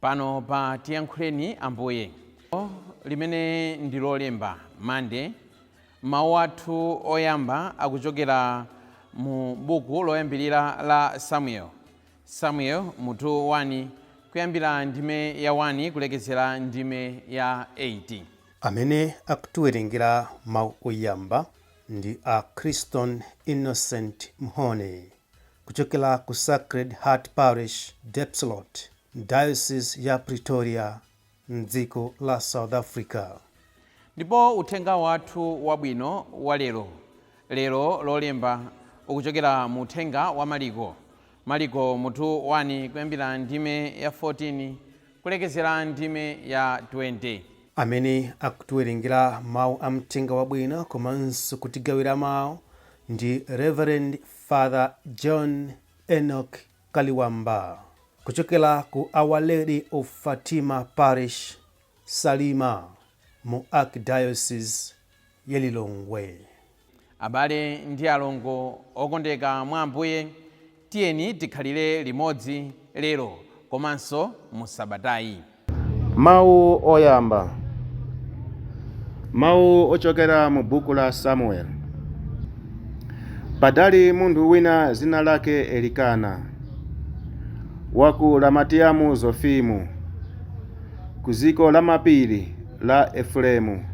Pano pa Tiyankhuleni Ambuye, limene ndi Lolemba, Monday, mawu athu oyamba akuchokera mu buku loyambirira la Samueli. Samueli, mutu 1, kuyambira ndime ya 1 kulekezera ndime ya 8. Amene akutiwerengera mawu oyamba ndi a Christon Innocent Mhone. Kuchokera ku Sacred Heart Parish, Diepsloot, Diocese ya Pretoria m'dziko la South Africa. Ndipo uthenga wathu wabwino wa lero, lero Lolemba, ukuchokera mu uthenga wa Maliko, Maliko mutu 1 kuyambira ndime ya 14 kulekezera ndime ya 20. Amene akutiwerengera mau a Mthenga Wabwino komanso kutigawira mau ndi Rev. Father John Enoch Kaliwamba kuchokera ku Our Lady of Fatima Parish, Salima mu Archdiocese ya Lilongwe. Abale ndi alongo okondeka mwa Ambuye, tiyeni tikhalire limodzi lero komanso mu sabatayi. Mawu Oyamba Mawu ochokera mu buku la Samueli Padali munthu wina dzina lake Elikana wa ku Ramatiyamu Zofimu ku dziko lamapiri la Efuremu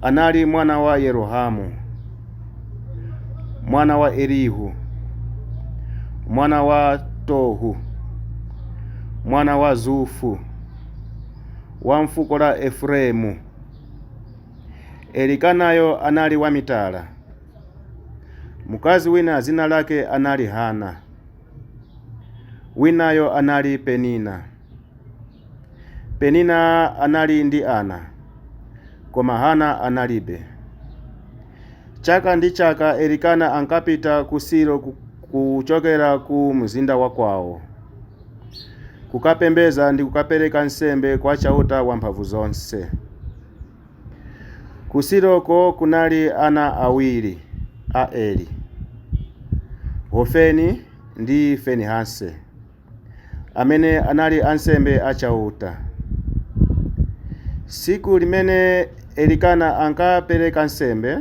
anali mwana wa Yerohamu, mwana wa Elihu, mwana wa Tohu, mwana wa Zufu, wa mfuko la Efuremu. Elikanayo anali wamitala. Mkazi wina dzina lake anali Hana, winayo anali Penina. Penina anali ndi ana, koma Hana analibe. Chaka ndi chaka Elikana ankapita ku Silo kuchokera ku mzinda wa kwawo kukapembedza ndi kukapereka nsembe kwa Chauta Wamphamvuzonse. Ku Siloko kunali ana awiri a Eli, Hofeni ndi Finehasi. amene anali ansembe a Chauta. Tsiku limene Elikana ankapereka nsembe,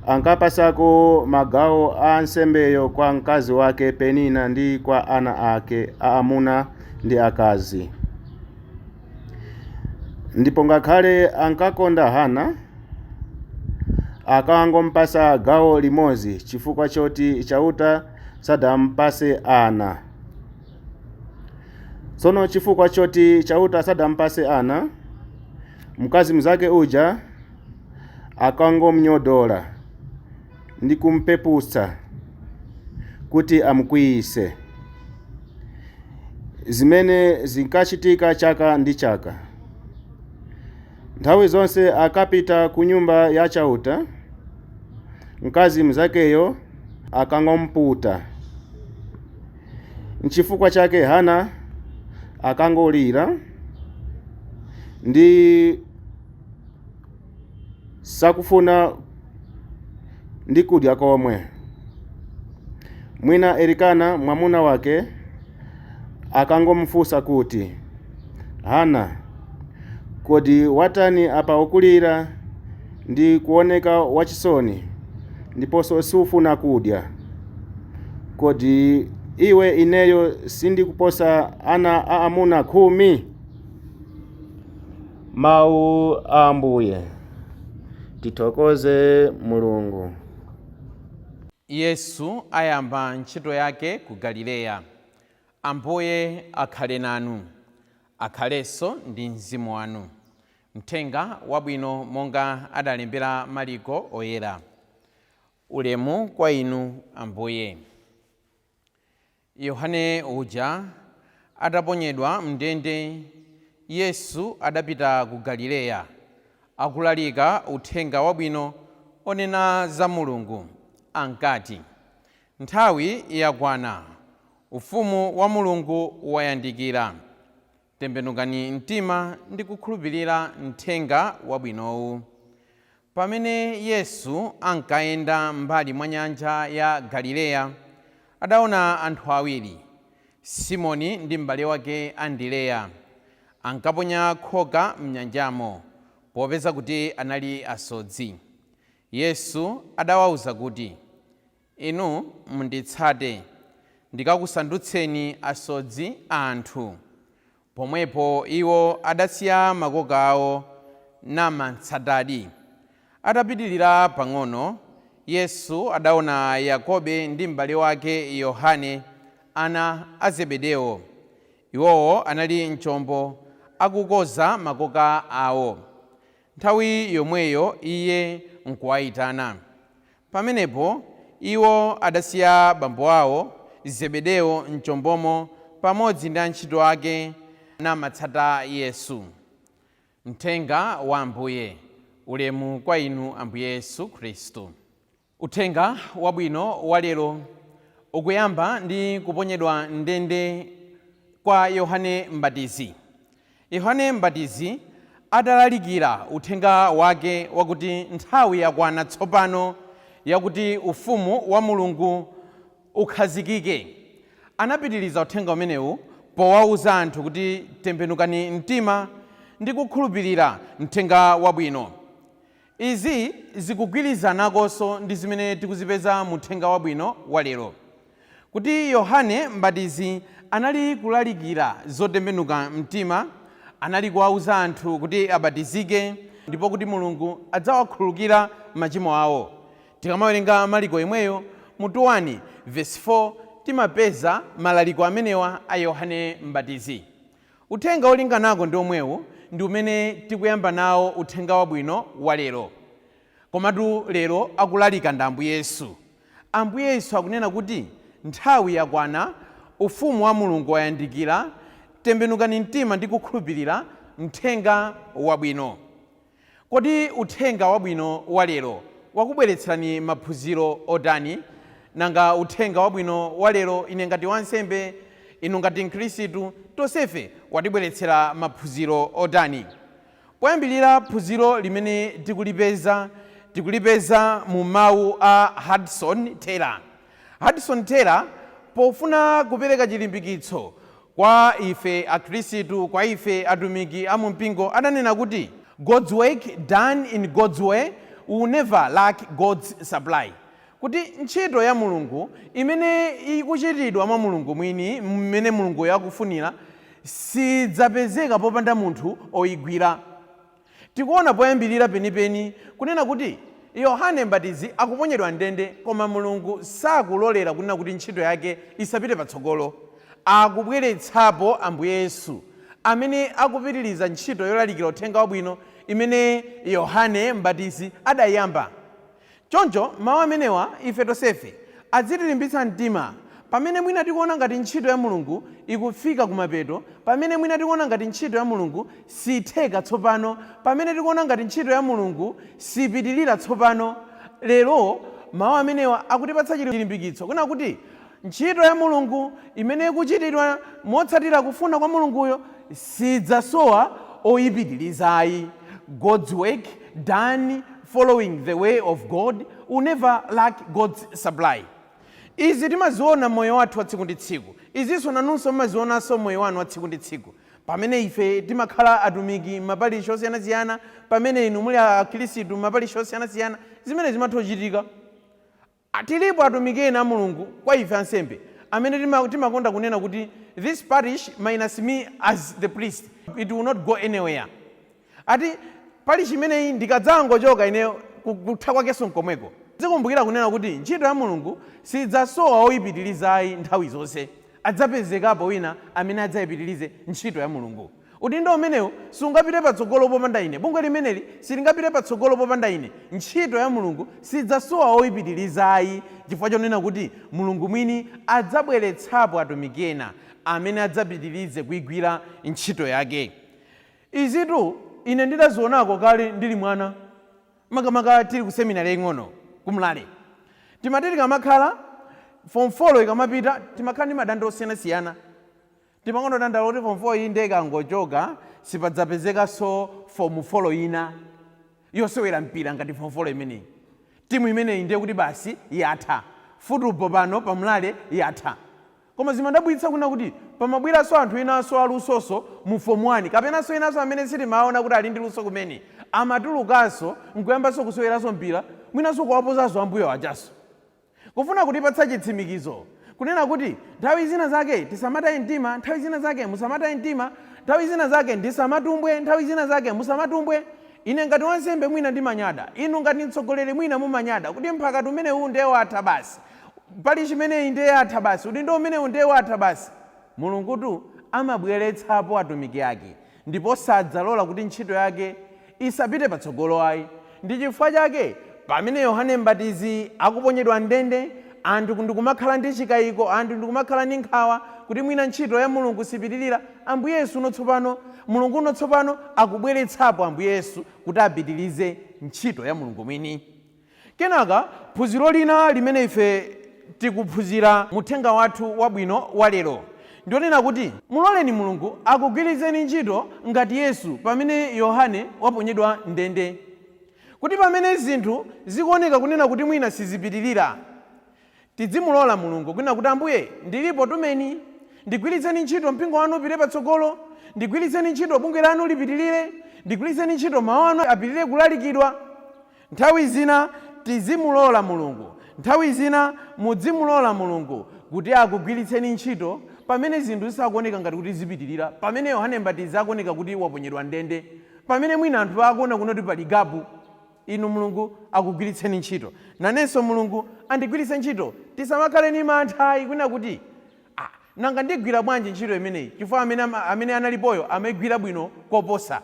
ankapatsako magawo a nsembeyo kwa mkazi wake Penina ndi kwa ana ake aamuna ndi akazi. Ndipo ngakhale ankakonda Hana, ankangompatsa gawo limodzi chifukwa choti Chauta sadampase ana. Tsono chifukwa choti Chauta sadampase ana, mkazi mnzake uja ankangomnyodola ndi kumpeputsa kuti amkwiyise. Zimene zinkachitika chaka ndi chaka. Nthawi zonse akapita ku Nyumba ya Chauta, mkazi mnzakeyo ankangomputa. Nchifukwa chake Hana ankangolira ndi osafuna ndi kudya komwe. Mwina Elikana mwamuna wake ankangomufunsa kuti. Hana, kodi watani apa? Ukulira ndi kuwoneka wachisoni, ndiponso sufuna kudya. Kodi iwe ineyo sindikuposa ana aamuna khumi? Mawu a Ambuye. Tithokoze Mulungu. Yesu ayamba ntchito yake ku Galileya. Ambuye akhale nanu. Akhalenso ndi mzimu wanu. Mthenga Wabwino monga adalembera Maliko Oyera. Ulemu kwa Inu, Ambuye. Yohane uja ataponyedwa m'ndende, Yesu adapita ku Galileya, akulalika Uthenga Wabwino onena za Mulungu. Ankati, Nthawi yakwana! Ufumu wa Mulungu wayandikira. Tembenukani mtima ndi kukhulupilira mthenga wabwinowu. Pamene Yesu ankayenda m'mbali mwa nyanja ya Galileya, adaona anthu awiri, Simoni ndi m'bale wake Andereya. Ankaponya khoka m'nyanjamo popeza kuti anali asodzi. Yesu adawauza kuti, Inu munditsate, ndikakusandutseni asodzi a anthu. Pomwepo iwo adasiya makoka ao namamtsatadi. Atapitirira pang'ono, Yesu adaona Yakobe ndi mbale wake Yohane, ana a Zebedeo. Iwowo anali m'chombo akukonza makoka ao. Nthawi yomweyo iye nkuwaitana. Pamenepo iwo adasiya bambo wao Zebedeo m'chombomo pamodzi ndi antchito ake, namatsata Yesu. Mthenga wa Ambuye. Ulemu kwa Inu Ambuye Yesu Khristu. Uthenga wabwino wa lero ukuyamba ndi kuponyedwa m'ndende kwa Yohane Mbatizi. Yohane Mbatizi adalalikira uthenga wake wakuti nthawi yakwana tsopano yakuti Ufumu wa Mulungu ukhazikike, anapitiriza uthenga umenewu powauza anthu kuti tembenukani mtima ndi kukhulupirira mthenga wabwino. Izi zikugwirizanakonso ndi zimene tikuzipeza mu uthenga wabwino wa lero, kuti Yohane Mbatizi anali kulalikira zotembenuka mtima, anali kuwauza anthu kuti abatizike ndipo kuti Mulungu adzawakhululukira machimo awo. Tikamawerenga Marko yemweyo, mutu 1, vesi 4, timapeza malaliko amenewa a Yohane Mbatizi. Uthenga olinganako ndi umwewu ndi umene tikuyamba nawo Uthenga Wabwino wa lero. Komatu lero akulalika ndi Ambuye Yesu. Ambuye Yesu akunena kuti nthawi yakwana, Ufumu wa Mulungu wayandikira, tembenukani mtima ndi kukhulupirira Mthenga Wabwino. Kodi uthenga wabwino wa lero wakubweretserani maphunziro otani? Nanga uthenga wabwino wa lero ine ngati wansembe, inu ngati Mkhristu, tonsefe watibweretsera maphunziro otani? Poyambirira phunziro limene tikulipeza, tikulipeza mu mawu a Hudson Taylor. Hudson Taylor, pofuna kupereka chilimbikitso kwa ife Akhrisitu, kwa ife atumiki a mu mpingo, adanena kuti, God's work done in God's way will never lack God's supply. Kuti ntchito ya Mulungu imene ikuchitidwa mwa Mulungu mwini mmene Mulunguyo akufunira, sidzapezeka popanda munthu oyigwira. Tikuona poyambirira penipeni kunena kuti Yohane Mbatizi akuponyedwa m'ndende koma Mulungu sakulolera kunena kuti ntchito yake isapite patsogolo. Akubweretsapo Ambuye Yesu amene akupitiriza ntchito yolalikira Uthenga Wabwino imene Yohane Mbatizi adaiyamba. Choncho, mawu amenewa ife tonsefe adzitilimbitsa mtima pamene mwina tikuona ngati ntchito ya Mulungu ikufika kumapeto, pamene mwina tikuona ngati ntchito ya Mulungu siitheka tsopano, pamene tikuona ngati ntchito ya Mulungu siipitilira tsopano. Lero, mawu amenewa akutipatsa chilimbikitso, kunena kuti, Ntchito ya Mulungu imene ikuchitidwa motsatira kufuna kwa Mulunguyo siidzasowa oyipitiriza ayi, God's work done following the way of God will never lack God's supply. Izi timaziona mmoyo wathu wa tsiku ndi tsiku. Izinso nanunso mmazionanso mmoyo wanu wa tsiku ndi tsiku. Pamene ife timakhala atumiki mmaparishi osiyanasiyana, pamene inu muli akhirisitu mmaparishi osiyanasiyana, zimenezi zimatha kuchitika. Tilipo atumiki ena a Mulungu, kwa ife ansembe, amene tima, timakonda kunena kuti this parish minus me as the priest, it will not go anywhere. Ati, Parish imeneyi ndikadzangochoka ineyo, ku, kutha kwakenso nkomweko. Tizikumbukira kunena kuti ntchito ya Mulungu siidzasowa oyipitiriza ayi nthawi zonse. Adzapezekapo wina amene adzayipitirize ntchito ya Mulungu. Udindo umenewu sungapite patsogolo popanda ine. Bungwe limeneli silingapite patsogolo popanda ine. Ntchito ya Mulungu sidzasowa oyipitiriza ayi, chifukwa chonena kuti Mulungu mwini adzabweretsapo atumiki ena amene adzapitirize kuigwira ntchito yake. Izitu ine ndidazionako kale ndili mwana, makamaka tili kuseminale yaing'ono ku Mlale. Timati tikamakhala, fomu folo ikamapita timakhala ndi madandaulo osiyanasiyana. Timakonda kudandaula kuti form 4 iyi ndiye ikangochoka sipadzapezekanso form folo ina yosewera mpira ngati form folo imeneyi. Timu imeneyi ndiye kuti basi yatha. Futubo pano pa Mlale yatha. Koma zimadabwitsa kunena kuti pamabweranso anthu enanso a lusonso mu form 1 kapenanso enanso amene sitimawaona kuti ali ndi luso kumene amatulukanso n'kuyambanso kuseweranso mpira mwinanso kuwaposanso ambuyo ajanso. Kufuna kutipatsa chitsimikizo, kunena kuti, Nthawi zina zake tisamataye mtima, nthawi zina zake musamataye mtima, nthawi zina zake ndisamatumbwe, nthawi zina zake musamatumbwe. Ine ngati wansembe mwina ndimanyada, inu ngati mtsogoleri mwina mumanyada kuti mphakati umenewu nde watha basi, parish imeneyi nde yatha basi, udindo umenewu nde watha basi. Mulungutu amabweretsapo atumiki ake. ndipo sadzalola kuti ntchito yake isapite patsogolo ayi. Ndi chifukwa chake pamene Yohane Mbatizi akuponyedwa m'ndende, anthu ndi kumakhala ndi chikaiko, anthu ndi kumakhala ndi nkhawa kuti mwina ntchito ya Mulungu sipitilira, Ambuye Yesu uno tsopano, Mulungu uno tsopano akubweretsapo Ambuye Yesu kuti apitilize ntchito ya Mulungu mwini. Kenaka, phunziro lina limene ife tikuphunzira mu uthenga wathu wabwino wa lero, ndi lonena kuti, Muloleni Mulungu akugwiritseni ntchito ngati Yesu pamene Yohane waponyedwa m'ndende. Kuti pamene zinthu zikuoneka kunena kuti mwina sizipitirira, Tidzimulola Mulungu kunena kuti Ambuye ndilipo tumeni, ndigwilitseni ntchito mpingo wanu upite patsogolo, ndigwilitseni ntchito bungwe lanu lipitilire, ndigwilitseni ntchito mau anu apitilire kulalikidwa. Nthawi zina tizimulola Mulungu nthawi zina mudzimulola Mulungu kuti akugwilitseni ntchito pamene zinthu zisakuoneka ngati kuti zipitilira, pamene Yohane Mbatizi akuoneka kuti waponyedwa mndende, pamene mwina anthu akuona kunena kuti pali gapu. Inu Mulungu akugwiritseni ntchito. Nanenso Mulungu andigwiritse ntchito. Tisamakhale ndi mantha ayi kunena kuti, Ah, nanga ndigwira bwanji ntchito imeneyi? Chifukwa amene, amene analipoyo amaigwira bwino koposa.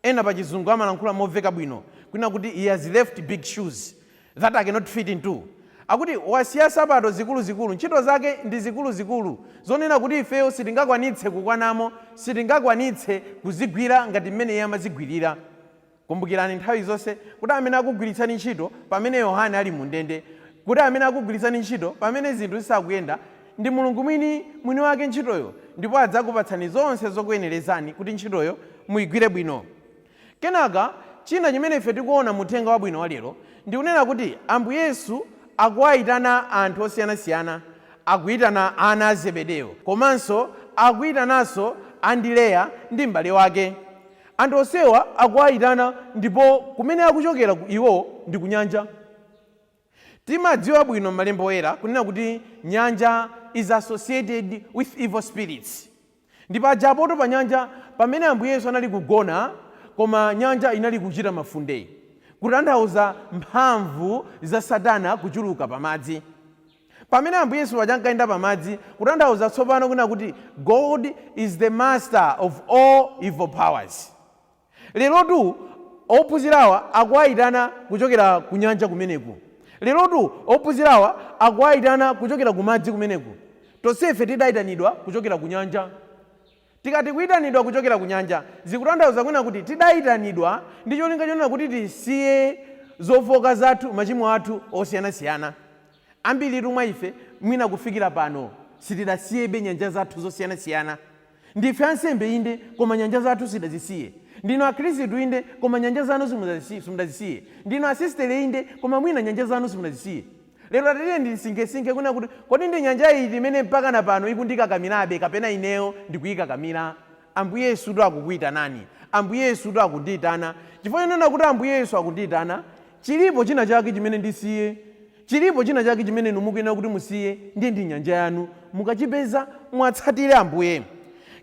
Ena pachizungu amalankhula moveka bwino kunena kuti he has left big shoes that i cannot fit into. Akuti wasiya sapato zikuluzikulu, ntchito zake ndi zikuluzikulu zonena kuti ifeyo sitingakwanitse kukwanamo, sitingakwanitse kuzigwira ngati mmene iye amazigwirira. Kumbukirani nthawi zonse kuti amene akugwiritsani ntchito pamene Yohane ali mu ndende, kuti amene akugwiritsani ntchito pamene zinthu zisakuyenda, ndi Mulungu mwini mwini wake ntchitoyo ndipo adzakupatsani zonse zokuyenerezani kuti ntchitoyo muigwire bwino. Kenaka china chimene ife tikuona mu uthenga wabwino wa lero ndi kunena kuti Ambuye Yesu akuwaitana anthu osiyana siyana. Akuitana ana a Zebedeo komanso akuitananso Andireya ndi m'bale wake. Anthu onsewa akuwayitana ndipo kumene akuchokera iwo ndi kunyanja. Timadziwa bwino m'malembo oyera kunena kuti nyanja is associated with evil spirits. Ndipo pajatu pa nyanja pamene Ambuye Yesu anali kugona koma nyanja inali kuchita mafunde kutanthauza mphamvu za satana kuchuluka pa madzi. Pamene Ambuye Yesu paja ankayenda pa madzi, kutanthauza tsopano kunena kuti God is the master of all evil powers. Lerotu ophunzirawa akuwaitana kuchokera ku nyanja kumeneku. Lerotu ophunzirawa akuwaitana kuchokera ku madzi kumeneku. Tonsefe tidaitanidwa kuchokera ku nyanja. Tikati kuitanidwa kuchokera kunyanja, zikutanthauza kunena kuti tidaitanidwa ndi cholinga chonena kuti tisiye zofooka zathu, machimo athu osiyanasiyana. Ambiritu mwa ife mwina kufikira pano sitidasiyebe nyanja zathu zosiyanasiyana. Ndife ansembe inde, koma nyanja zathu sitidazisiye. Ndinu akhristu inde, koma nyanja zanu simudazisiye. Ndinu asistere inde, koma mwina nyanja zanu simudazisiye. Lero tatiyeni tisinkhesinkhe kunena kuti, Kodi ndi nyanja iti imene mpakana pano ikundikakamirabe kapena ineyo ndikuyikakamira? Ambuye Yesutu akukuyitanani. Ambuye Yesutu akundiyitana. Chifukwa chonena kuti Ambuye Yesu akundiyitana, chilipo china chake chimene ndisiye. Chilipo china chake chimene inu mukuyenera kuti musiye, ndiye ndi nyanja yanu. Mukachipeza, muwatsatire Ambuye.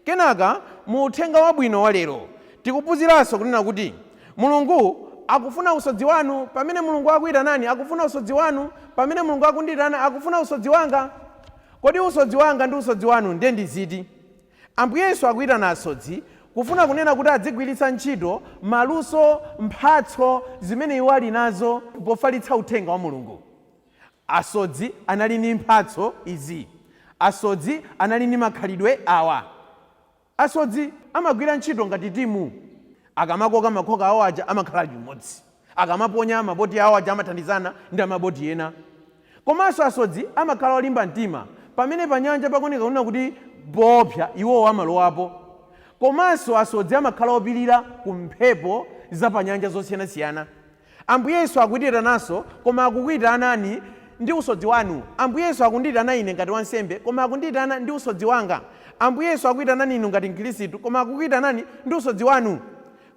Kenaka, mu Uthenga Wabwino wa lero, tikuphunziranso kunena kuti. Mulungu akufuna usodzi wanu pamene Mulungu akuitanani akufuna usodzi wanu pamene Mulungu akundiitana akufuna usodzi wanga Kodi usodzi wanga ndi usodzi wanu nde ndi ziti? Ambuye Yesu akuitana asodzi kufuna kunena kuti adzigwiritsa ntchito maluso, mphatso zimene iwo ali nazo pofalitsa uthenga wa Mulungu Asodzi anali ndi mphatso izi Asodzi anali ndi makhalidwe awa. Asodzi amagwira ntchito ngati timu. Akamakoka makhoka awo aja amakhala limodzi. Akamaponya maboti awo aja amathandizana ndi a maboti ena. Komanso asodzi amakhala olimba mtima. Pamene panyanja pakuoneka kunena kuti poopsa, iwowo amalowapo. Komanso asodzi amakhala opirira ku mphepo zapanyanja zosiyanasiyana. Ambuye Yesu akuitananso, koma akukuitanani ndi usodzi wanu. Ambuye Yesu akundiitana ine ngati wansembe, koma akundiitana ndi usodzi wanga. Ambuye Yesu akuitanani inu ngati Mkhristu, koma akukuitanani ndi usodzi wanu.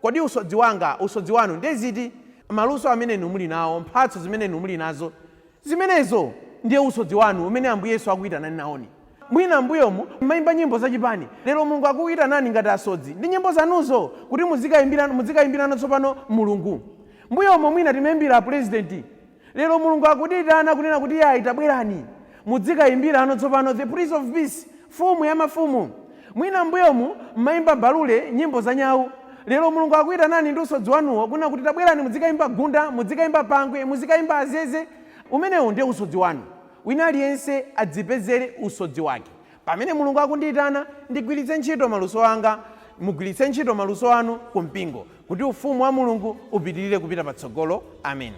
Kodi usodzi wanga, usodzi wanu, ndiye ziti? Maluso amene inu muli nawo, mphatso zimene inu muli nazo, zimenezo ndiye usodzi wanu umene Ambuye Yesu akukuitanani nawoni. Mwina m'mbuyomu mumaimba nyimbo za chipani, lero Mulungu akuitanani ngati asodzi ndi nyimbo zanuzo kuti mudzikaimbirano tsopano Mulungu. Mbuyomu mwina timaimbira pulezidenti, lero Mulungu akutiitana kunena kuti iyayi tabwerani mudzikaimbirano tsopano the Prince of Peace, Mfumu ya mafumu. Mwina m'mbuyomu mumaimba mbalule, nyimbo za nyau, lero Mulungu akuitanani ndi usodzi wanuwo kunena kuti tabwerani mudzikaimba gunda, mudzikaimba pangwe, muzikaimba azeze, umenewo ndiye usodzi wanu. Wina aliyense adzipezere usodzi wake. Pamene Mulungu akundiitana, ndigwiritse ntchito maluso anga, mugwiritse ntchito maluso anu ku mpingo, kuti Ufumu wa Mulungu upitirire kupita patsogolo. Ameni.